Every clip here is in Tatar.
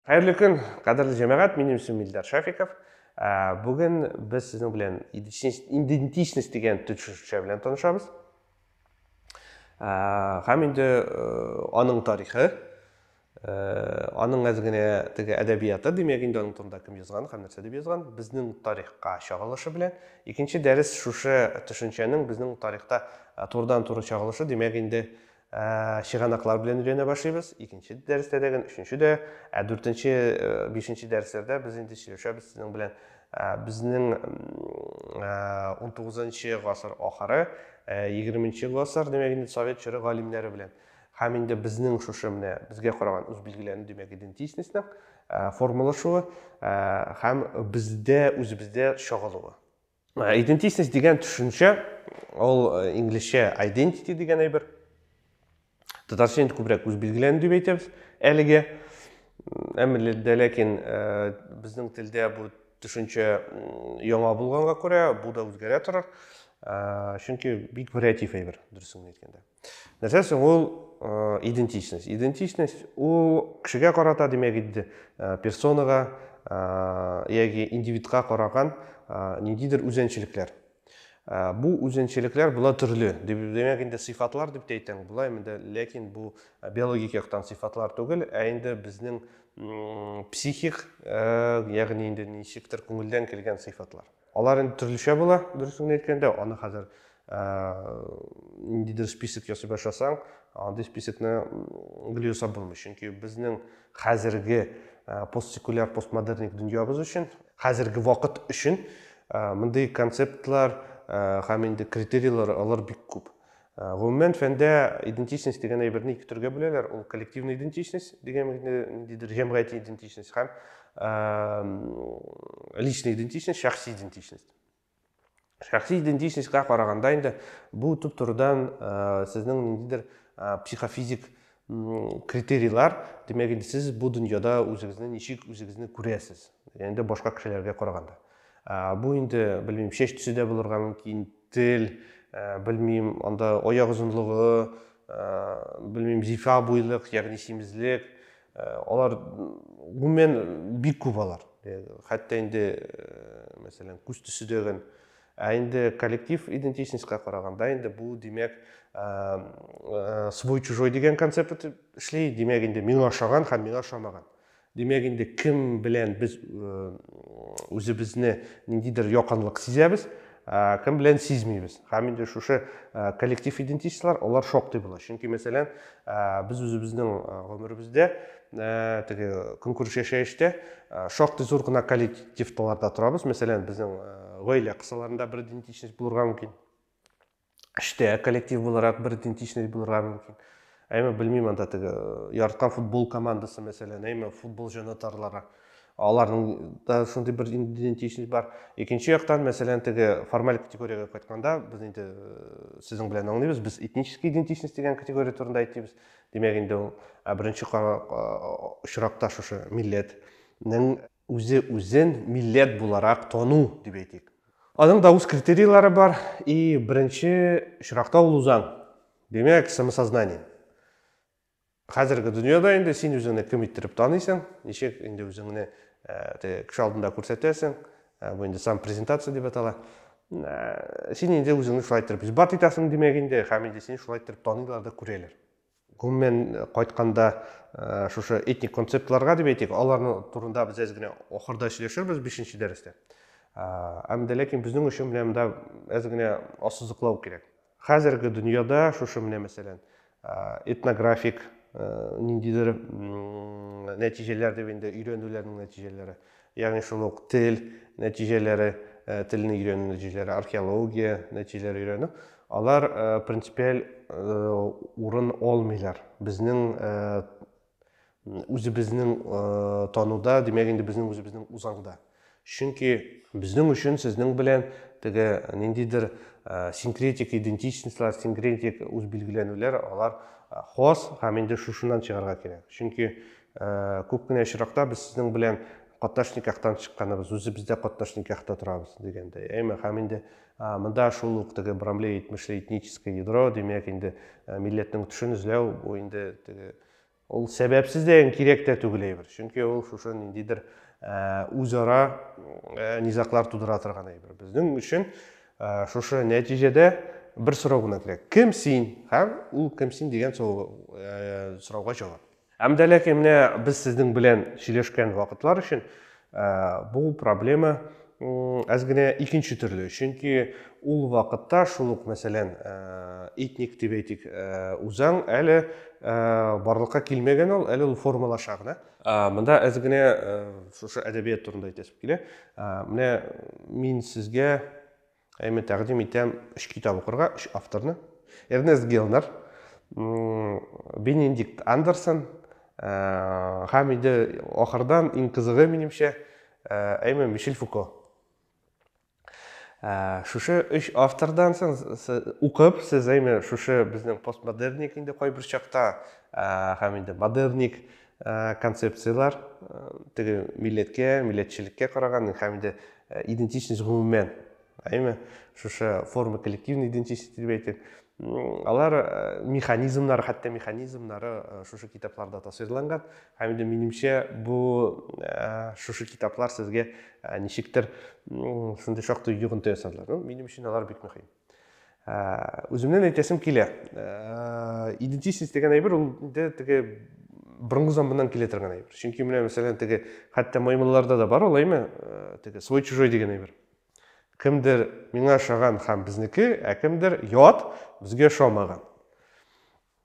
Хәерле көн, кадерле җәмәгать, минем исем Илдар Шафиков. Ә, бүген без сезнең белән идентичность дигән төшенчә белән танышабыз. Ә, һәм инде э, аның тарихы, э, аның әз генә теге әдәбияты, димәк инде аның турында кем язган һәм нәрсә дип язган, безнең тарихка чагылышы белән. Икенче дәрес шушы төшенчәнең безнең тарихта э, турыдан-туры чагылышы, димәк инде Ә, чыганаклар белән өйрәнә башлыйбыз. Икенче дәрестә дә, өченче дә, ә дүртенче, бишенче дәресләрдә без инде сөйләшәбез сезнең белән безнең 19-нчы гасыр ахыры, 20-нче гасыр, димәк инде совет чоры галимнәре белән. Һәм инде безнең шушы менә безгә караган үз билгеләрне, димәк, идентичностьның формалашуы һәм бездә үзебездә чагылуы. Ә, идентичность дигән төшенчә, ул э, инглизчә identity дигән әйбер. Татарча инде күбрәк үзбилгеләнү дип әйтәбез әлегә. Әмма дә ләкин э, безнең телдә бу төшенчә яңа булганга күрә, бу да үзгәрә торыр. Э, чөнки бик вариатив әйбер, дөресен әйткәндә. нәрсә соң ул идентичность идентичность ул кешегә карата димәк инде персонага яки индивидка караган ниндидер үзенчелекләр бу үзенчелекләр болар төрле димәк инде сыйфатлар дип тә әйтәм болай инде ләкин бу биологик яктан сыйфатлар түгел ә инде безнең психик ягъни инде ничектер күңелдән килгән сыйфатлар Алар инде төрлечә була, дөресен әйткәндә, аны хәзер э, ниндидер список ясый башласаң, андый списокны гел ясап булмый. Чөнки безнең хәзерге э, постсекуляр, постмодерник дөньябыз өчен, хәзерге вакыт өчен э, мондый концептлар һәм инде критерийлар алар бик күп. Э, гомумән фәндә идентичность дигән әйберне ике төргә бүләләр ул коллективный идентичность дигән ниндидер җәмгыяти идентичность һәм личный идентичность шәхси идентичность шәхси идентичностька караганда инде бу төп турыдан э, сезнең ниндидер э, психофизик критерийлар димәк инде сез бу дөньяда үзегезне ничек үзегезне күрәсез инде башка кешеләргә караганда бу инде белмим шәч төсе дә булырга мөмкин Тел, белмим, анда аяк озынлыгы, белмим, зифа буйлык, ягъни симезлек, алар гомумән бик күп алар. Хәтта инде, мәсәлән, күз төсе дәген. Ә инде коллектив идентичностька караганда инде бу, димәк, свой-чужой дигән концепт эшли, димәк, инде миңа ошаган һәм миңа ошамаган. Димәк инде кем белән без үзебезне ниндидер якынлык сизәбез, Э, кем белән сизмибез һәм инде шушы э, коллектив идентичностьлар алар шактый була чөнки мәсәлән э, без үзебезнең гомеребездә теге көнкүреш яшәештә шактый зур гына коллективталарда торабыз мәсәлән безнең гаилә кысаларында бер идентичность булырга мөмкин эштә коллектив буларак бер идентичность булырга мөмкин әйме белмим анда теге яраткан футбол командасы мәсәлән әйме футбол җанатарлары аларның да шундый бер идентичность бар икенче яктан мәсәлән теге формаль категориягә кайтканда без инде сезнең белән аңлыйбыз без этнический идентичность дигән категория турында әйтибез димәк инде ул ә беренче очракта шушы милләтнең үзе үзен милләт буларак тану дип әйтик. Аның да үз критерийлары бар, и беренче очракта ул узан. Димәк, самосознание. Хәзерге дөньяда инде син үзеңне кем иттереп таныйсың, ничек инде үзеңне э, кеше алдында күрсәтәсең, э, бу инде сам презентация дип атала. Э, син инде үзеңне шулай иттереп исбат итәсең, димәк инде, һәм инде син шулай иттереп таныйлар да күрәләр. Гомумән кайтканда, шушы этник концептларга дип әйтик, аларның турында без әз генә ахырда сөйләшербез 5 дәрестә. Әм дә ләкин безнең өчен менә монда әз генә ассызыклау кирәк. Хәзерге дөньяда шушы менә мәсәлән, этнографик ниндидер нәтиҗәләр дип инде өйрәнүләрнең нәтиҗәләре. Ягъни шул ук тел нәтиҗәләре, телне өйрәнү нәтиҗәләре, археология нәтиҗәләре өйрәнү, алар принципиаль урын алмыйлар. Безнең үзебезнең тануда, димәк инде безнең үзебезнең узаңда. Чөнки безнең өчен сезнең белән теге ниндидер синкретик идентичностьлар, синкретик үзбилгеләнүләр, алар хас һәм инде шушыннан чыгарга кирәк. Чөнки Ә, күп кенә очракта без сезнең белән катнаш никахтан чыкканыбыз, үзебез дә катнаш никахта торабыз дигәндәй. Әйме, һәм инде монда шул ук теге брамле әйтмешле этническое ядро, димәк, инде милләтнең төшен эзләү, бу инде теге ул сәбәпсез дә кирәк тә түгел әйбер. Чөнки ул шушы ниндидер үзара низаклар тудыра торган әйбер. Безнең өчен шушы нәтиҗәдә бер сорау гына кирәк. Кем син? Һәм ул кем син дигән сорауга җавап. Һәм дә ләкин менә без сезнең белән сөйләшкән вакытлар өчен бу проблема әз генә икенче төрле. Чөнки ул вакытта шул ук, мәсәлән, этник дип әйтик, үзаң әле барлыкка килмәгән ул, әле ул формалаша гына. Монда әз генә шушы әдәбият турында әйтәсем килә. Менә мин сезгә Ә мин тәкъдим итәм өч китап укырга, өч авторны. Эрнест Гелнер, Бенедикт Андерсон э, һәм инде ахырдан иң кызыгы минемчә әйме э, Мишель Фуко. Э, шушы өч автордан соң укып, сез әйме шушы безнең постмодерник инде кайбер чакта һәм инде модерник Э, концепцияләр э, теге милләткә милләтчелеккә караган һәм инде э, идентичность гомумән әйме шушы форма коллективной идентичности дип әйтик алар механизмнары хәтта механизмнары шушы китапларда тасвирланган һәм инде минемчә бу шушы китаплар сезгә ничектер шундый шактый йогынты ясадылар минем өчен алар бик мөһим үземнен әйтәсем килә идентичность дигән әйбер ул инде теге борынгы заманнан килә торган әйбер чөнки менә мәсәлән теге хәтта маймылларда да бар ул әйме теге свой чужой дигән әйбер кемдер миңа ошаган һәм безнеке ә кемдер ят безгә ошамаган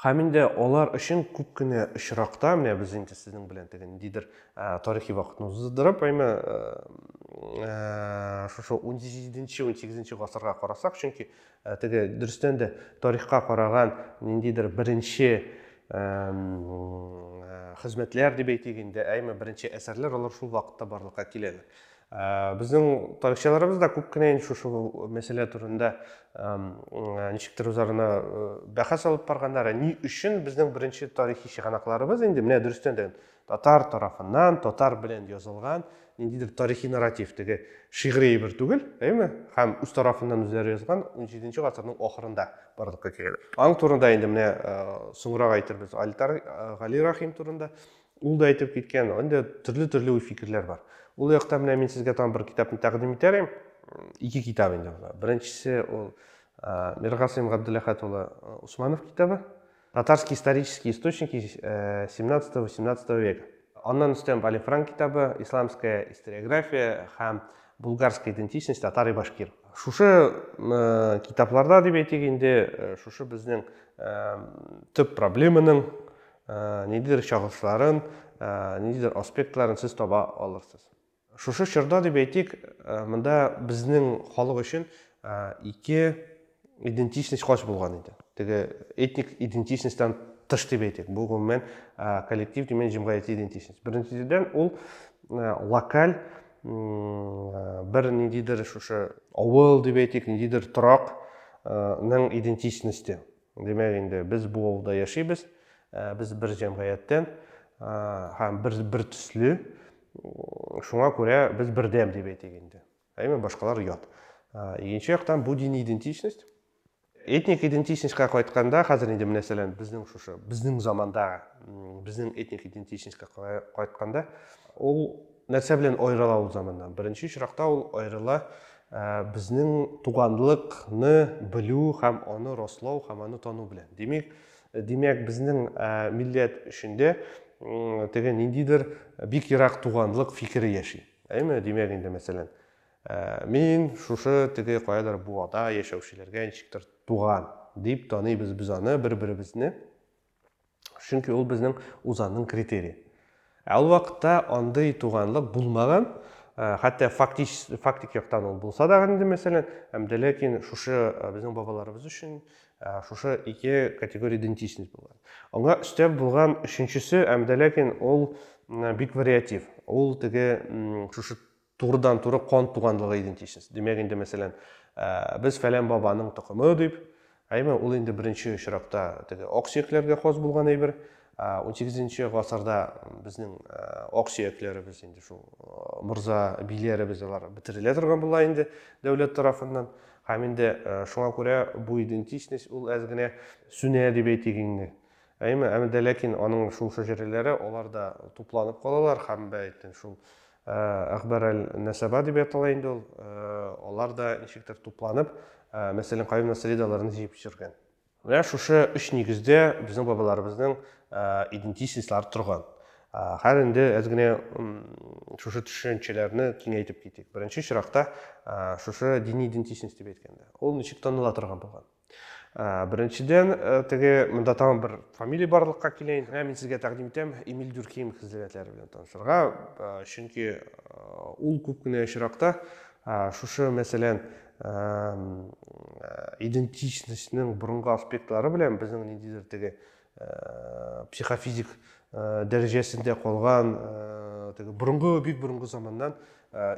Һәм инде алар өчен күп кенә очракта, менә без инде сезнең белән теге ниндидер тарихи вакытны уздырып, әйме, шушы 17-18 гасырга карасак, чөнки теге дөрестән дә тарихка караган ниндидер беренче хезмәтләр дип әйтик инде, әйме, беренче әсәрләр алар шул вакытта барлыкка киләләр. Ә, безнең тарихчыларыбыз да күп кенә инде шушы мәсьәлә турында ничектер үзарына бәхәс алып барганнар. Ә ни өчен безнең беренче тарихи чыганакларыбыз инде менә дөрестән дә татар тарафыннан, татар белән язылган ниндидер тарихи нарратив, теге шигъри әйбер түгел, әйме? Һәм үз тарафыннан үзләре язган 17 гасырның ахырында барлыкка килгән. Аң турында инде менә соңрак әйтербез. Альтар Гали Рахим турында Ул да әйтеп киткән, инде төрле-төрле уй фикерләр бар. Ул яктан менә мин сезгә тагын бер китапны тәкъдим итәр идем. Ике китап инде була. Беренчесе ул Миргасыйм Габдуллахат улы Усманов китабы. Татарские исторические источники 17-18 э, века. Аннан өстән Вали Франк китабы Исламская историография һәм булгарская идентичность татар и башкир. Шушы э, китапларда дип әйтик инде, э, шушы безнең төп проблеманың Ниндидер шәхесләрен, ниндидер аспектларын сез таба алырсыз. Шушы чорда дип әйтик, монда безнең халык өчен ике идентичность хач булган иде. Теге этник идентичностьтан тыш дип әйтик. Бу гомумән коллектив димән җәмгыяти идентичность. Беренчедән ул локаль бер ниндидер шушы авыл дип әйтик, ниндидер торакның идентичносте. Димәк инде, без бу авылда яшибез, без бер җәмгыятьтән һәм бер бер төсле, шуңа күрә без бердәм дип әйтик инде. Әйме, башкалар ят. Икенче яктан бу дини идентичность, этник идентичностька кайтканда, хәзер инде мәсәлән безнең шушы, безнең заманда безнең этник идентичностька кайтканда, ул нәрсә белән аерыла ул заманнан? Беренче очракта ул аерыла Безнең туганлык ны белү һәм аны раслау һәм аны тану белән. Димик, димәк, безнең милләт эчендә теге ниндидер бик ерак туганлык фикере яши. Әйме, димәк инде, мәсәлән, мин шушы теге каядыр буада яшәүчеләргә ничектер туган, дип таныйбыз без аны, бер-беребезне. Чөнки ул безнең узанның критерии. Ә ул вакытта андый туганлык булмаган, э, хәтта фактич, фактик яктан ул булса да инде мәсәлән, һәм дә ләкин шушы э, безнең бабаларыбыз өчен э, шушы ике категория идентичность булган. Аңа өстәп булган өченчесе, һәм дә ләкин ул бик вариатив. Ул теге шушы Турыдан-туры кан туганлыгы идентичность. Димәк инде, мәсәлән, без фәлән бабаның токымы дип, әйме, ул инде беренче очракта теге аксөякләргә хас булган әйбер. 18-нче гасырда безнең аксөякләребез инде шул морза биләребез алар бетерелә торган була инде дәүләт тарафыннан. Һәм инде шуңа күрә бу идентичность ул әз генә сүнә дип әйтик инде. Әйме, әмдә ләкин аның шул шәҗәрәләре аларда тупланып калалар һәм бәйтен шул Ә, Әхбар әл-Нәсәба дип ятала инде ул. Ә, алар да ничектер тупланып, ә, мәсәлән, Каюм Насредаларны җыеп җөргән. Менә шушы өч нигездә безнең бабаларыбызның ә, идентичностьлары торган. Ә, хәзер инде әз генә шушы төшенчәләрне киңәйтеп китик. Беренче чиракта, ә, шушы дини идентичность дип әйткәндә, ул ничек таныла торган булган? Ә, беренчедән, ә, теге монда тагын бер фамилия барлыкка килә инде. Ә, мин сезгә тәкъдим итәм Эмиль Дюркеем хезрәтләре белән танышырга, ә, чөнки ә, ул күп кенә очракта ә, шушы мәсәлән ә, идентичностьнең борынгы аспектлары белән безнең ниндидер теге психофизик дәрәҗәсендә калган борынгы бик борынгы заманнан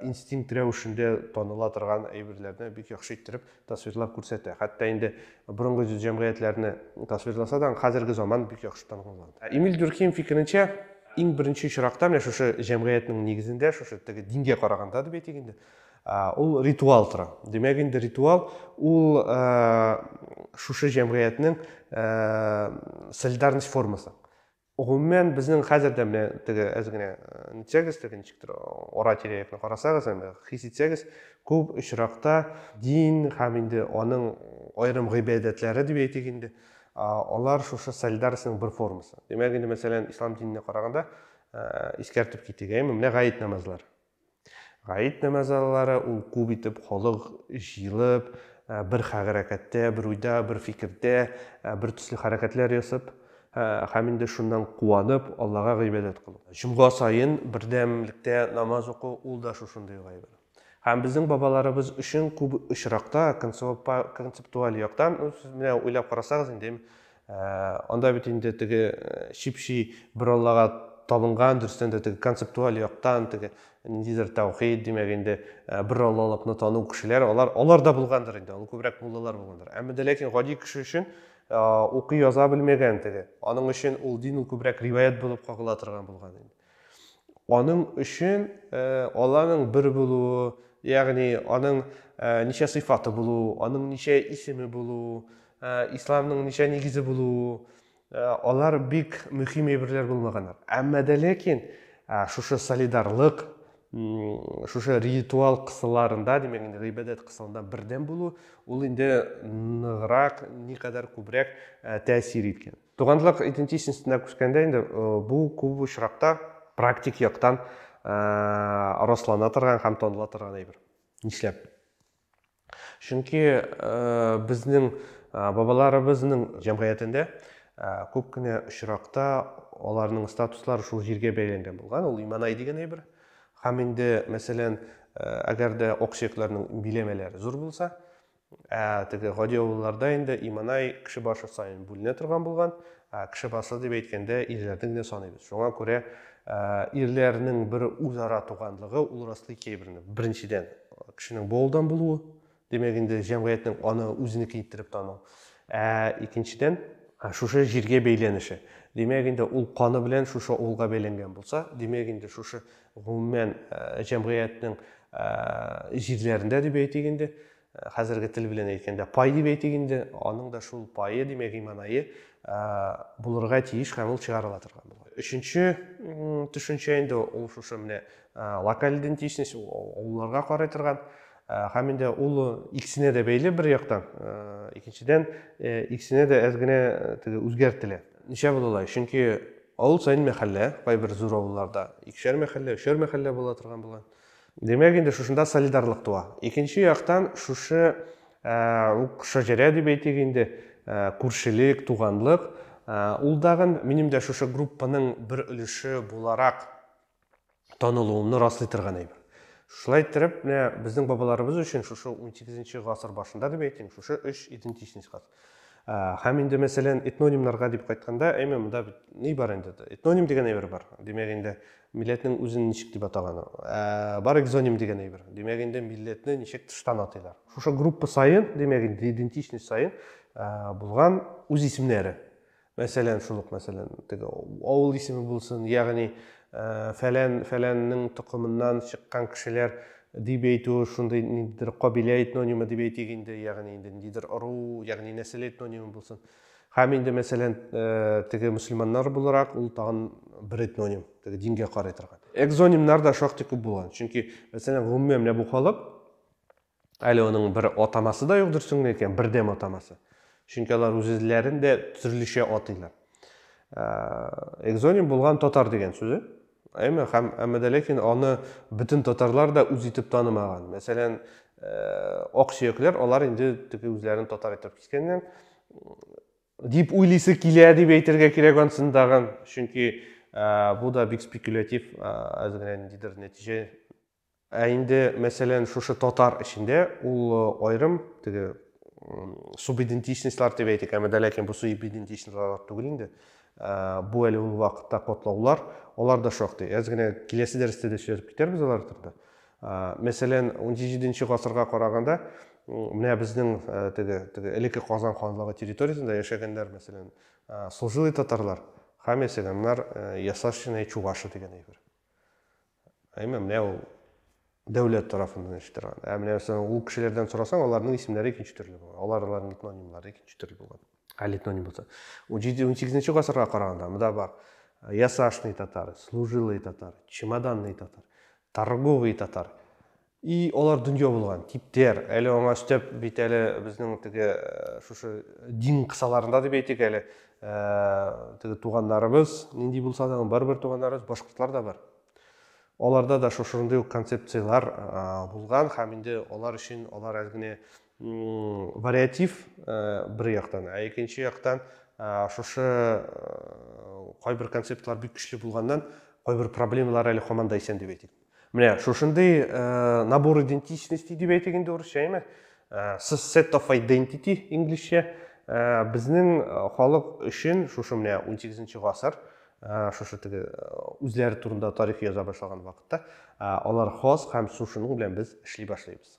инстинкт рәвешендә таныла торган әйберләрне бик яхшы иттереп тасвирлап күрсәтә хәтта инде борынгы җәмгыятьләрне тасвирласа да хәзерге заман бик яхшы танылган эмиль дюрким фикеренчә иң беренче очракта менә шушы җәмгыятьнең нигезендә шушы теге дингә караганда дип әйтик инде ул ритуал тора димәк инде ритуал ул шушы җәмгыятьнең солидарность формасы гомумән безнең хәзер дә менә теге әз генә нитсәгез теге ничектер ара тирә якны карасагыз әмма хис итсәгез күп очракта дин һәм инде аның аерым гыйбадәтләре дип әйтик инде алар шушы солидарностьның бер формасы димәк инде мәсәлән ислам диненә караганда искәртеп китик әйме менә гает намазлар Гает намазы аллары ул күп итеп халык җыелып, бер хәрәкәттә, бер уйда, бер фикердә, бер төсле хәрәкәтләр ясап, һәм инде шуннан куанып, Аллага гыйбадәт кылу. Җомга саен бердәмлектә намаз уку ул да шушындый гыйбадәт. Һәм безнең бабаларыбыз өчен күп очракта концептуаль яктан, сез менә уйлап карасагыз инде, Ә, анда бит инде теге чипши бер Аллага табынган, дөрестән дә теге концептуаль яктан, теге ниндидер тәүхид, димәк инде бер Аллалыкны тану кешеләр, алар алар да булгандыр инде, ул күбрәк муллалар булгандыр. Әмма дә ләкин гади кеше өчен укый яза белмәгән теге. Аның өчен ул дин ул күбрәк риваять булып кагыла торган булган инде. Аның өчен Алланың бер булуы, ягъни аның ничә сыйфаты булу, аның ничә исеме булу, исламның ничә нигезе булу, алар бик мөһим әйберләр булмаганнар. Әмма дә ләкин шушы солидарлык, шушы ритуал кысаларында, димәк инде гыйбадәт кысалында бердәм булу, ул инде ныграк, никадәр күбрәк тәэсир иткән. Туганлык идентичностена күчкәндә инде бу күп очракта практик яктан раслана торган һәм таныла торган әйбер. Нишләп? Чөнки безнең бабаларыбызның җәмгыятендә күп кенә очракта аларның статуслары шул җиргә бәйләнгән булган, ул иманай дигән әйбер. Һәм инде, мәсәлән, әгәр дә оксекларның биләмәләре зур булса, Ә теге гади авылларда инде Иманай кеше башы саен бүленә торган булган. Ә кеше басы дип әйткәндә ирләрне генә саныйбыз. Шуңа күрә ирләрнең бер үзара туганлыгы ул раслый кәйберне. Беренчедән, кешенең бу авылдан булуы, димәк инде җәмгыятьнең аны үзенеке иттереп тану. Ә икенчедән, шушы җиргә бәйләнеше. Димәк инде ул каны белән шушы авылга бәйләнгән булса, димәк инде шушы Гомумән, җәмгыятьнең җирләрендә дип әйтик инде, хәзерге тел белән әйткәндә пай дип әйтик инде, аның да шул пае, димәк, иманайы булырга тиеш һәм ул чыгарыла торган була. Өченче төшенчә инде ул шушы менә локаль идентичность, авылларга карый торган һәм инде ул икесенә дә бәйле бер яктан, икенчедән икесенә дә әз генә теге үзгәртелә. Ничә була алай? Чөнки авыл саен мәхәллә, кайбер зур авылларда икешәр мәхәллә, өчәр мәхәллә була торган була. Димәк, инде шушында солидарлык туа. Икенче яктан, шушы ук шәҗәрә дип әйтик инде, күршелек, туганлык, ул дагын минем дә шушы группаның бер өлеше буларак танылуымны раслый торган әйбер. Шулай иттереп, менә безнең бабаларыбыз өчен шушы 18 гасыр башында дип әйтим, шушы өч идентичность хас. Һәм инде, мәсәлән, этнонимнарга дип кайтканда, әйме, монда бит ни бар инде? Этноним дигән әйбер бар. Димәк инде, милләтнең үзен ничек дип атаган? Бар экзоним дигән әйбер. Димәк инде, милләтне ничек тыштан атыйлар? Шушы группа саен, димәк инде, идентичность саен булган үз исемнәре. Мәсәлән, шул ук мәсәлән, теге авыл исеме булсын, ягъни фәлән фәләннең токымыннан чыккан кешеләр дип әйтү шундый ниндидер кабилә этнонимы дип әйтик инде, ягъни инде ниндидер ыру, ягъни нәсел этнонимы булсын. Һәм инде мәсәлән, теге мөселманнар буларак ул тагын бер этноним, теге дингә карый торган. Экзонимнар да шактый күп булган. Чөнки мәсәлән, гомумән менә бу халык Әле аның бер атамасы да юк дөресен генә әйткәндә, бердәм атамасы. Чөнки алар үзләрен дә төрлечә атыйлар. Экзоним булган татар дигән сүзе. Әмма һәм әмма дә ләкин аны бөтен татарлар да үз итеп танымаган. Мәсәлән, ак сөякләр алар инде теге үзләрен татар итеп кискәннәр дип уйлыйсы килә дип әйтергә кирәк ансын тагын чөнки бу да бик спекулятив әз генә ниндидер нәтиҗә Ә инде, мәсәлән, шушы татар эчендә ул аерым теге субидентичностьлар дип әйтик, әмма дә ләкин бу субидентичностьлар түгел инде. Бу әле ул вакытта котлаулар, алар да шактый. Әз генә киләсе дәрестә дә сөйләп китәрбез алар турында. Мәсәлән, 17 гасырга караганда менә безнең теге теге элекке Казан ханлыгы территориясендә яшәгәннәр, мәсәлән, служилый татарлар, һәм ясәгәннәр ясашчина чувашы дигән әйбер. Әмма менә ул дәүләт тарафыннан эш торган. Ә менә ул кешеләрдән сорасаң, аларның исемнәре икенче төрле булган. Алар аларның этнонимлары икенче төрле булган. Әле этноним булса. 17-18 гасырга караганда монда бар. Ясашный татар, служилый татар, чемоданный татар, торговый татар. И алар дөнья булган, типтер. Әле аңа өстәп бит әле безнең теге э, шушы дин кысаларында дип әйтик әле, э, теге туганнарыбыз, нинди булса да, барыбер туганнарыбыз башкортлар да бар. Аларда да шушындый ук концепцияләр э, булган һәм инде алар өчен алар әле генә вариатив бер яктан, ә икенче яктан шушы кайбер концептлар бик көчле булганнан кайбер проблемалар әле һаман да исән дип әйтик. Менә шушындый э, набор идентичности дип әйтик инде урысча, әйме? Э, set of identity инглизчә. Э, безнең халык өчен шушы менә 18 гасыр, шушы теге үзләре турында тарих яза башлаган вакытта, алар хас һәм шушының белән без эшли башлыйбыз.